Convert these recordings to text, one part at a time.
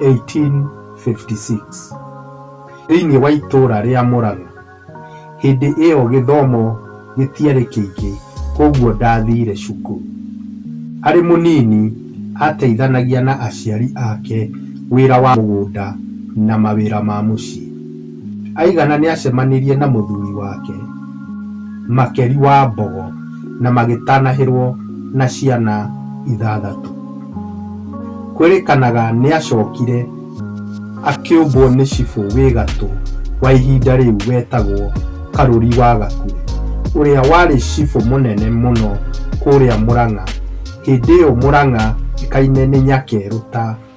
1856 thĩinĩ wa itũũra rĩa Mũrang'a. Hĩndĩ ĩyo gĩthomo gĩtiarĩ kĩingĩ kwoguo ndathiire cukuru. Arĩ mũnini aateithanagia na aciari ake wĩra wa mũgũnda na mawĩra ma mũciĩ. Aigana nĩacemanirie na mũthuri wake Makeri wa Mbogo na magĩtanahĩrwo na ciana ithathatũ. Kwĩrĩkanaga nĩacokire akĩũmbwo nĩ cibũ wĩ gatũ wa ihinda rĩu wetagwo Karũri wa Gakure, ũrĩa warĩ cibũ mũnene mũno kũrĩa Mũrang'a, hĩndĩ ĩyo Mũrang'a ĩkaine nĩ Nyakerũ ta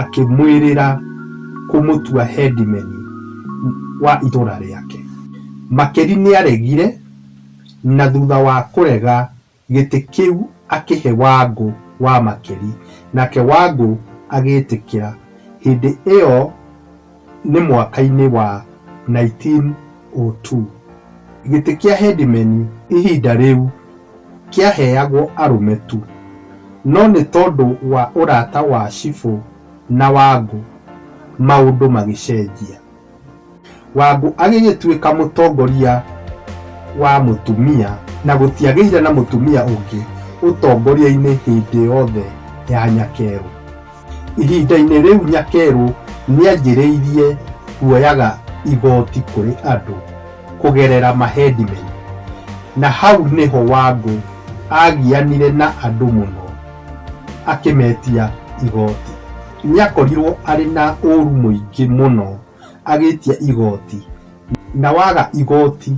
akĩmwĩrĩra kũmũtua hendimeni wa itũũra rĩake. Makeri nĩaregire na thutha wa kũrega gĩtĩ kĩu akĩhe Wangũ wa Makeri nake Wangũ agĩtĩkĩra. Hĩndĩ ĩyo. Nĩ mwaka-inĩ wa 1902, gĩtĩ kĩa Headman ihinda rĩu kĩaheagwo arũme tu, no nĩ tondũ wa ũrata wa Cibũ na Wangũ maũndũ magĩcenjia. Wangũ agĩgĩtuĩka mũtongoria wa mũtumia na gũtiagĩire na mũtumia ũngĩ ũtongoria-inĩ hĩndĩ yothe ya Nyakerũ. Ihinda-inĩ rĩu Nyakeru nĩanjĩrĩirie kuoyaga igoti kũrĩ andũ kũgerera maheadmen na hau nĩho Wangũ agianire na andũ mũno akĩmetia igoti. Nĩakorirwo arĩ na ũru mũingĩ mũno agĩtia igoti na waga igoti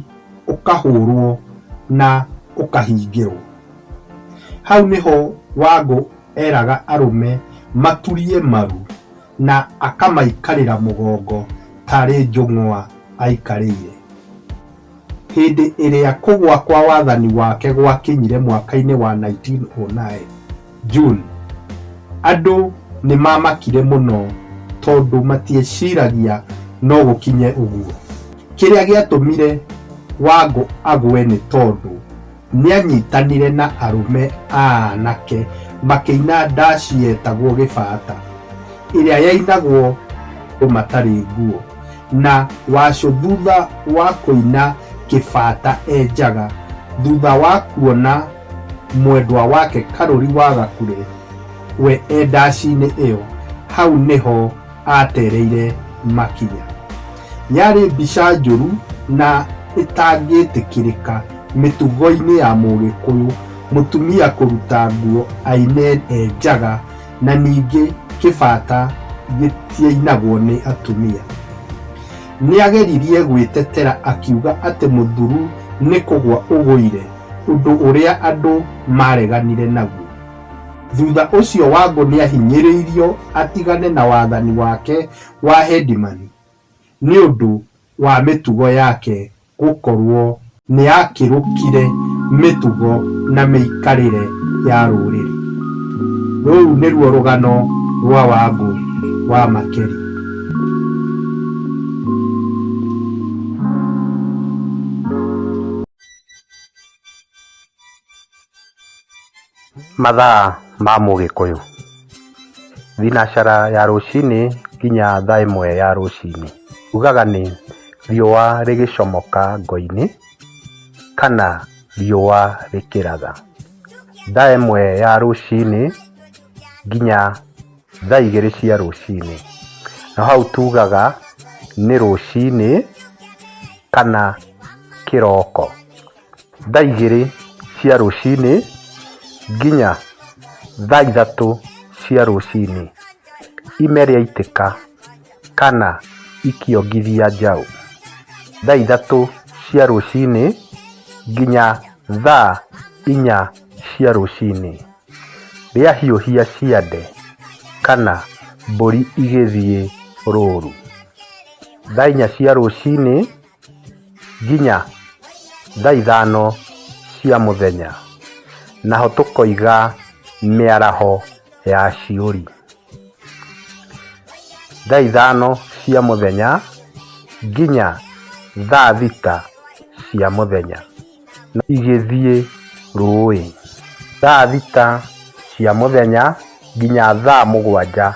ũkahũrwo na ũkahingĩrwo. Hau nĩho Wangũ... eraga arũme maturie maru na akamaikarĩra mũgongo tarĩ njũng'wa aikarĩire. Hĩndĩ ĩrĩa kũgwa kwa wathani wake gwakinyire mwaka-inĩ wa 1909, June, andũ nĩ maamakire mũno tondũ matieciragia no gũkinye ũguo. Kĩrĩa gĩatũmire Wangũ agwe nĩ tondũ, Nĩanyitanire na arũme a anake makĩina ndaci yetagwo Gĩbata, ĩrĩa yainagwo andũ matarĩ nguo, na Wacũ thutha wa kũina Kĩbata e njaga, thutha wa kuona mwendwa wake Karũri wa Gakure we e ndaci-inĩ ĩyo, hau nĩho aatereire makinya. Yarĩ mbica njũru na ĩtangĩtĩkĩrĩka mĩtugo-inĩ ya Mũgĩkũyũ mũtumia kũruta nguo aine e njaga na ningĩ kĩbata gĩtiainagwo nĩ atumia. Nĩageririe gwĩtetera akiuga atĩ mũthuru nĩ kũgwa ũgũire, ũndũ ũrĩa andũ maareganire naguo. Thutha ũcio Wangũ nĩahinyĩrĩirio atigane na wathani wake wa Headman nĩũndũ wa mĩtugo yake gũkorwo nĩyakĩrũkire mĩtugo na mĩikarĩre ya rũrĩrĩ. Rũu nĩruo rũgano rwa Wangũ wa Makeri. Mathaa ma mũgĩkũyũ. Thinashara ya rũcinĩ nginya thaa ĩmwe ya rũcinĩ. Ugaga nĩ riũa rĩgĩcomoka ngo-inĩ kana riũa rĩkĩratha. Thaa ĩmwe ya rũcinĩ nginya thaa igĩrĩ cia rũcinĩ. Na hau tugaga nĩ rũcinĩ kana kĩroko. thaa igĩrĩ cia rũcinĩ nginya thaa ithatũ cia rũcinĩ ime rĩaitĩka kana ikĩongithia njaũ. Thaa ithatũ cia rũcinĩ nginya thaa inya cia rũcinĩ rĩahiũhia ciande kana mbũri igĩthiĩ rũru. Thaa inya cia rũcinĩ nginya thaa ithano cia mũthenya, naho tũkoiga mĩaraho ya ciũri. Thaa ithano cia mũthenya nginya thaa thita cia mũthenya. na igĩthiĩ rũũĩ. Thaa thita cia mũthenya nginya thaa mũgwanja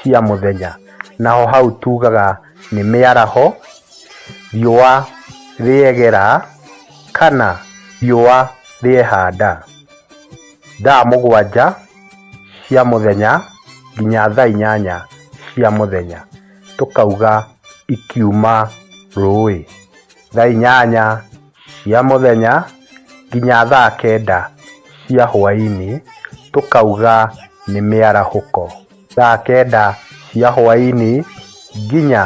cia mũthenya, naho hau tugaga nĩ mĩaraho, riũa rĩegera kana riũa rĩehanda. Thaa mũgwanja cia mũthenya nginya thaa inyanya cia mũthenya, tũkauga ikiuma rũũĩ. thaa inyanya cia mũthenya nginya thaa kenda cia hwaĩ-inĩ, tũkauga nĩ mĩarahũko. Thaa kenda cia hwaĩ-inĩ nginya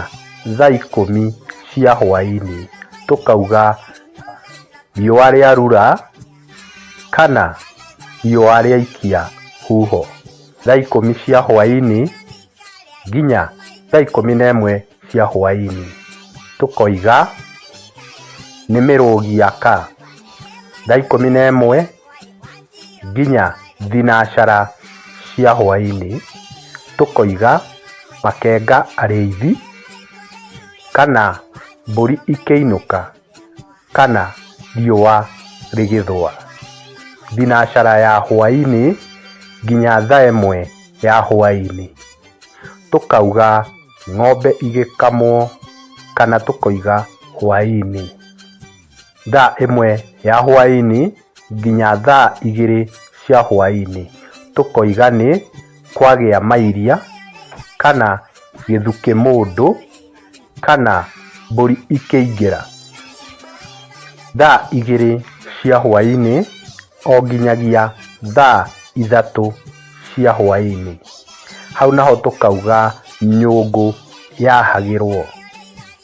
thaa ikũmi cia hwaĩ-inĩ, tũkauga riũa rĩa rura kana riũa rĩaikia huho. Thaa ikũmi cia hwaĩ-inĩ nginya thaa ikũmi na ĩmwe cia hwainĩ tũkoiga nĩ mĩrũgi ya ka thaa ikũmi na ĩmwe nginya thinacara cia hwainĩ tũkoiga makenga arĩithi kana mbũri ikĩinũka kana riũa rĩgĩthũa. Thinacara ya hwainĩ nginya thaa ĩmwe ya hwainĩ. Tũkauga ng'ombe igĩkamwo kana tũkoiga hwainĩ. Thaa ĩmwe ya hwainĩ nginya thaa igĩrĩ cia hwainĩ. Tũkoiga nĩ kwagĩa mairia kana gĩthukĩ mũndũ. kana mbũri ikĩingĩra thaa igĩrĩ cia hwaĩ-inĩ o nginyagia thaa ithatũ cia hwaĩ-inĩ. Hau naho tũkauga nyũngũ yahagĩrwo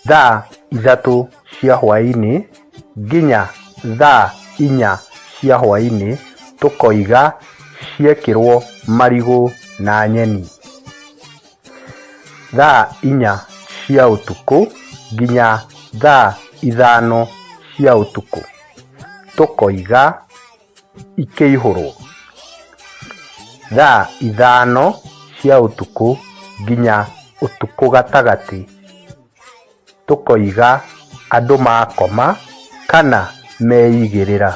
thaa ithatũ cia hwaĩ-inĩ nginya thaa inya cia hwaĩ-inĩ tũkoiga ciekĩrwo marigũ na nyeni. thaa inya cia ũtukũ nginya thaa ithano cia ũtukũ, tũkoiga ikĩihũrwo. Thaa ithano cia ũtukũ nginya ũtukũ gatagatĩ. tũkoiga andũ makoma kana meigĩrĩra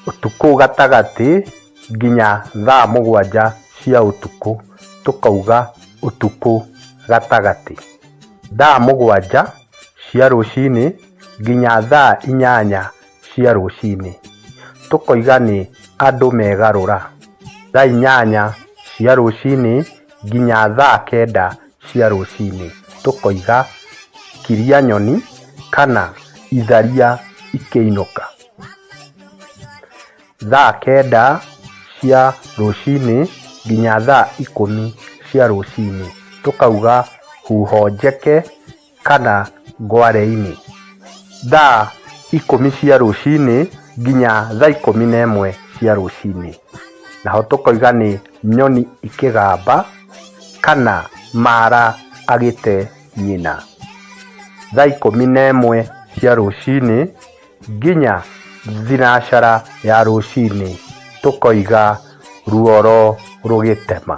ũtukũ gatagatĩ nginya thaa mũgwanja cia ũtukũ, tũkauga ũtukũ gatagatĩ. Thaa mũgwanja cia rũcinĩ nginya thaa inyanya cia rũcinĩ, tũkoiga nĩ andũ megarũra. Thaa inyanya cia rũcinĩ nginya thaa kenda cia rũcinĩ tũkoiga kiria nyoni kana itharia ikĩinũka. Thaa kenda cia rũcinĩ nginya thaa ikũmi cia rũcinĩ tũkauga huho njeke. kana ngwareinĩ, thaa ikũmi cia rũcinĩ nginya thaa ikũmi na ĩmwe cia rũcinĩ. Naho tũkoiga nĩ nyoni ikĩgamba kana mara agĩte nyina. Thaa ikũmi na ĩmwe cia rũcinĩ nginya thinacara ya rũcinĩ tũkoiga ruoro rũgĩtema.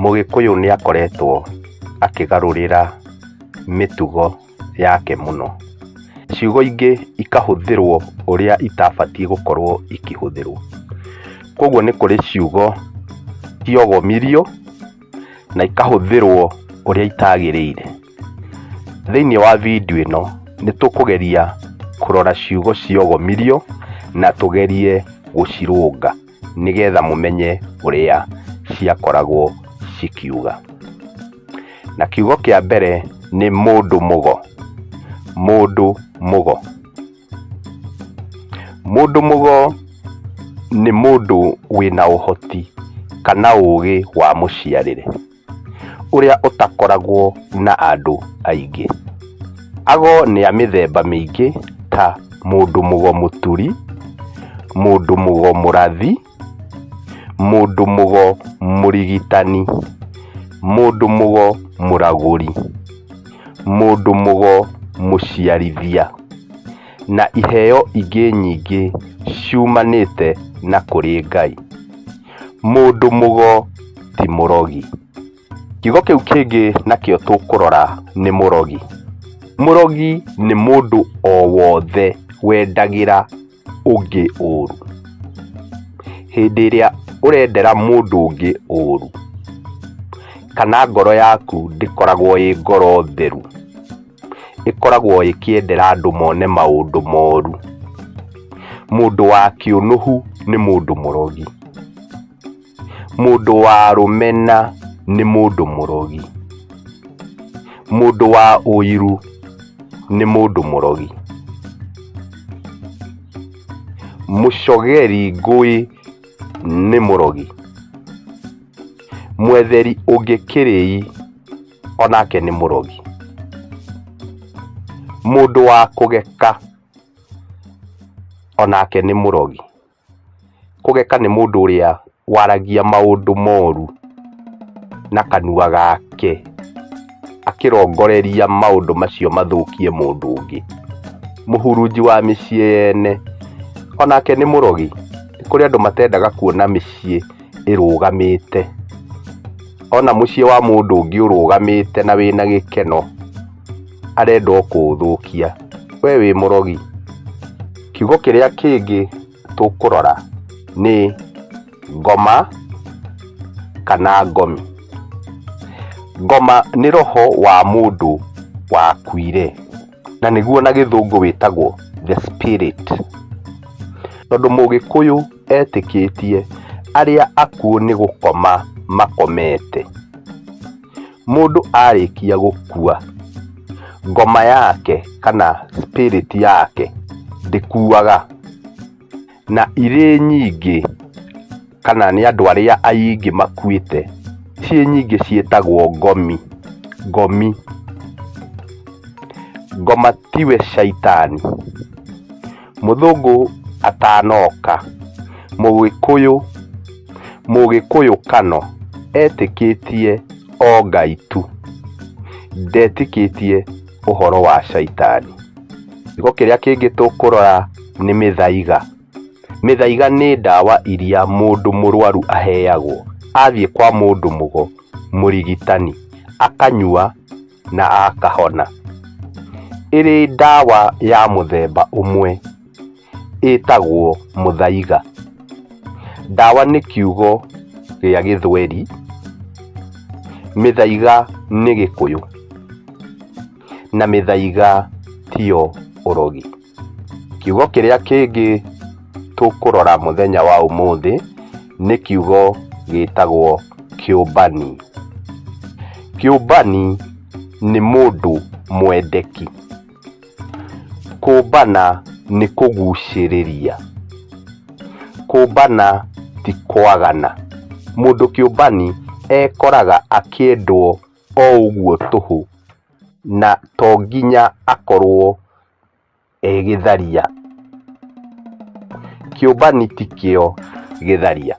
Mũgĩkũyũ nĩ akoretwo akĩgarũrĩra mĩtugo yake mũno. Ciugo ingĩ ikahũthĩrwo ũrĩa itabatiĩ gũkorwo ikĩhũthĩrwo. Koguo nĩ kũrĩ ciugo ciogomirio na ikahũthĩrwo ũrĩa itagĩrĩire. Thĩinĩ wa video ĩno nĩ tũkũgeria kũrora ciugo ciogomirio na tũgerie gũcirũnga. nĩgetha mũmenye ũrĩa ciakoragwo cikiuga. Na kiugo kĩa mbere nĩ mũndũ mũgo, mũndũ mũgo. Mũndũ mũgo nĩ mũndũ wĩna ũhoti kana ũgĩ wa mũciarĩre. ũrĩa ũtakoragwo na andũ aingĩ. Ago nĩ a mĩthemba mĩingĩ ta mũndũ mũgo mũturi, mũndũ mũgo mũrathi, mũndũ mũgo mũrigitani, mũndũ mũgo mũragũri, mũndũ mũgo mũciarithia. na iheo ingĩ nyingĩ ciumanĩte na kũrĩ Ngai. Mũndũ mũgo ti mũrogi. Kiugo kĩu kĩngĩ nakĩo tũkũrora nĩ mũrogi. Mũrogi nĩ mũndũ o wothe wendagĩra ũngĩ ũru. Hĩndĩ ĩrĩa ũrendera mũndũ ũngĩ ũru, kana ngoro yaku ndĩkoragwo ĩ ngoro theru. ĩkoragwo ĩkĩendera andũ mone maũndũ moru. Mũndũ wa kĩũnũhu nĩ mũndũ mũrogi. Mũndũ wa rũmena nĩ mũndũ mũrogi. Mũndũ wa ũiru nĩ mũndũ mũrogi. Mũcogeri ngũĩ nĩ mũrogi. Mwetheri ũngĩ kĩrĩi. onake nĩ mũrogi mũndũ wa kũgeka onake nĩ mũrogi kũgeka nĩ mũndũ ũrĩa waragia maũndũ moru na kanua gake akĩrongoreria maũndũ macio mathũkie mũndũ ũngĩ mũhurunji wa mĩciĩ yene onake nĩ mũrogi nĩ kũrĩ andũ matendaga kuona mĩciĩ ĩrũgamĩte. Ona mũciĩ wa mũndũ ũngĩ ũrũgamĩte na wĩna gĩkeno arenda o kũũthũkia, we wĩ mũrogi. Kiugo kĩrĩa kĩngĩ tũkũrora nĩ ngoma kana ngomi. Ngoma nĩ roho wa mũndũ wakuire. na nĩguo na gĩthũngũ wĩtagwo the spirit tondũ mũgĩkũyũ etĩkĩtie arĩa akuũ nĩ gũkoma makomete mũndũ arĩkia gũkua ngoma yake kana spirit yake ndĩkuaga Na irĩ nyingĩ, kana nĩ andũ arĩa aingĩ makuĩte, ciĩ nyingĩ ciĩtagwo ngomi, ngomi. Ngoma tiwe caitani. Mũthũngũ atanoka, mũgĩkũyũ, mũgĩkũyũ Kano etĩkĩtie o Ngai tu. Ndetĩkĩtie. ũhoro wa caitani. Kiugo kĩrĩa kĩngĩ tũkũrora nĩ mĩthaiga. Mĩthaiga nĩ ndawa iria mũndũ mũrwaru aheagwo athiĩ kwa mũndũ mũgo, mũrigitani, akanyua na akahona. Ĩrĩ ndawa ya mũthemba ũmwe ĩtagwo mũthaiga. Ndawa nĩ kiugo gĩa gĩthweri, mĩthaiga nĩ gĩkũyũ, na mĩthaiga tiyo ũrogi. Kiugo kĩrĩa kĩngĩ tũkũrora mũthenya wa ũmũthĩ nĩ kiugo gĩtagwo kĩũmbani. Kĩũmbani nĩ mũndũ mwendeki. Kũmbana nĩ kũgucĩrĩria. Kũmbana ti kwagana. Mũndũ kĩũmbani ekoraga akĩendwo o ũguo tũhũ na to nginya akorwo e gĩtharia. Kĩũmbani ti kĩo gĩtharia.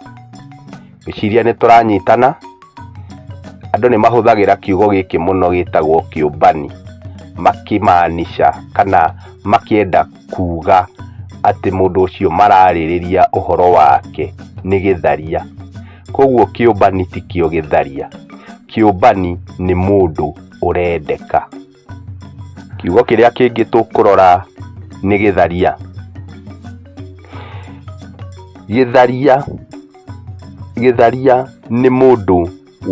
ngwĩciria nĩ tũranyitana andũ nĩ mahũthagĩra kiugo gĩkĩ mũno gĩtagwo kĩũmbani makĩmaanisha kana makĩenda kuga atĩ mũndũ ũcio mararĩrĩria ũhoro wake nĩ gĩtharia koguo kĩũmbani ti kĩo gĩtharia kĩũmbani nĩ mũndũ ũrendeka. Kiugo kĩrĩa kĩngĩ tũkũrora nĩ gĩtharia. Gĩtharia, gĩtharia nĩ mũndũ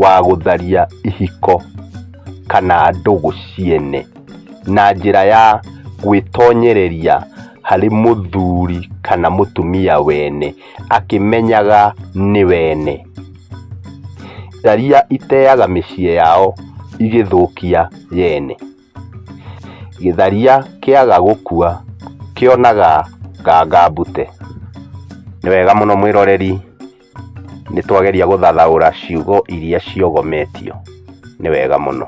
wa gũtharia ihiko kana ndũgũ ciene na njĩra ya gwĩtonyereria harĩ mũthuri kana mũtumia wene akĩmenyaga nĩ wene. Tharia iteaga mĩciĩ yao igĩthũkia yene. Gĩtharia kĩaga gũkua kĩonaga nganga mbute. Nĩ wega mũno mwĩroreri nĩ twageria gũthathaũra ciugo iria ciogometio. Nĩ wega mũno.